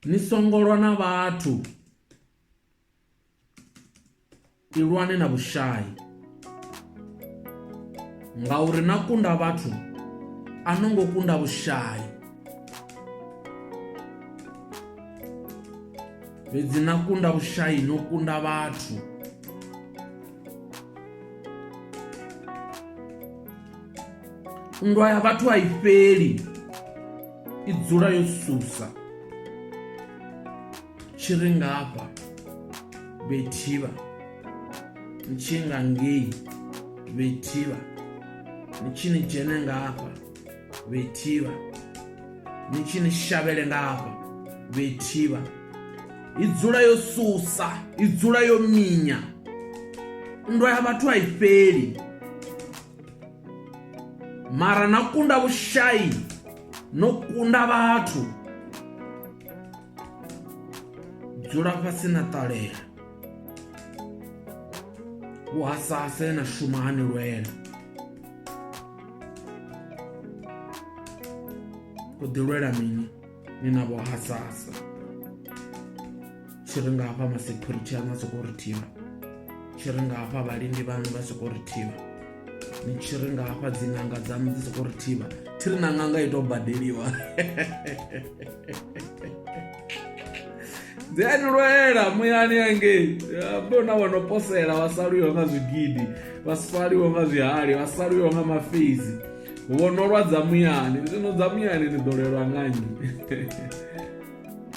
ni songo lwa na vhathu ilwane na vhushai ngauri na kunda vhathu a no ngo kunda vhushai fhedzi na kunda vhushai no kunda vhathu nndwa ya vhathu a i fheli i dzula yo susa tshi ri ngafha vhethivha ni tshi nga ngei vhethivha ni tshi ni dzhene ngafha vhethivha ni tshi ni shavhele ngafha vhethivha i dzula yo susa i dzula yo minya nndwa ya vhathu a i fheli mara na kunda vhushayi no kunda vhathu dzula fhasi na ṱalela vhuhasase na shuma hani lwela u ḓi lwela mini ni na vho hasasa tshi ri nga hafha masecurity aṋu a sokou ri thivha tshi ri nga hafha vhalindi vhaṋu vha sokou ri thivha ni tshi ri nga hafha dziṅanga dzaṋu dzi sokou ri thivha thi ri na ṅanga i tou badeliwa dzi a ni lwela muyani angei bo na vho no posela vha saluiwa nga zwigidi vha saliwa nga zwihali vha saliwa nga mafezi vho no lwa dza muyani zwino dza muyani ni ḓo lelwa nga nnyi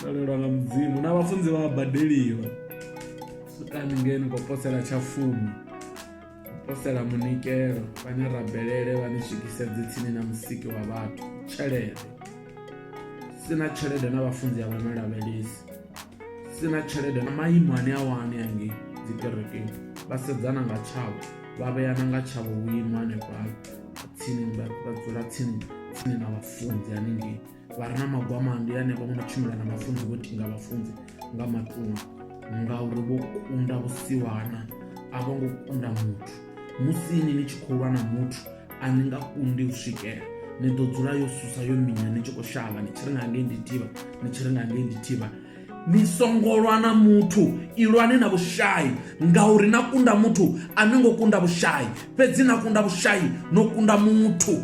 ḓo lelwa nga mudzimu na vhafunzi vha badeliwa sukani ngeni khou posela tsha fumi posela munikelo vhane rabelele vha ni swikise dzitsini na musiki wa vhathu tshelede sina tshelede na vhafunzi a vha no lavhelesi sina tshelede na maimo ane a wani angei dzikerekeni vha sedzana nga tshavho vha vhea na nga tshavho vhuimo hanefha tsini vha dzula tsini tsini na vhafunzi haningei vha re na magwama ndi hanefha vho no tshimbila na vhafunzi vho tinga vhafunzi nga matunga ngauri vho kunda vhusiwana a vho ngo kunda muthu musi ini ni tshi khou lwa na muthu a ni nga kundi u swikela ni ḓo dzula yo susa yo minya ni tshi khou shavha ni tshi ri nga ngei ndi thivha ni tshi ri nga ngei ndi thivha ni songo lwa na muthu ilwani na vhushai ngauri na kunda muthu a ni ngo kunda vhushai fhedzi na kunda vhushai no kunda muthu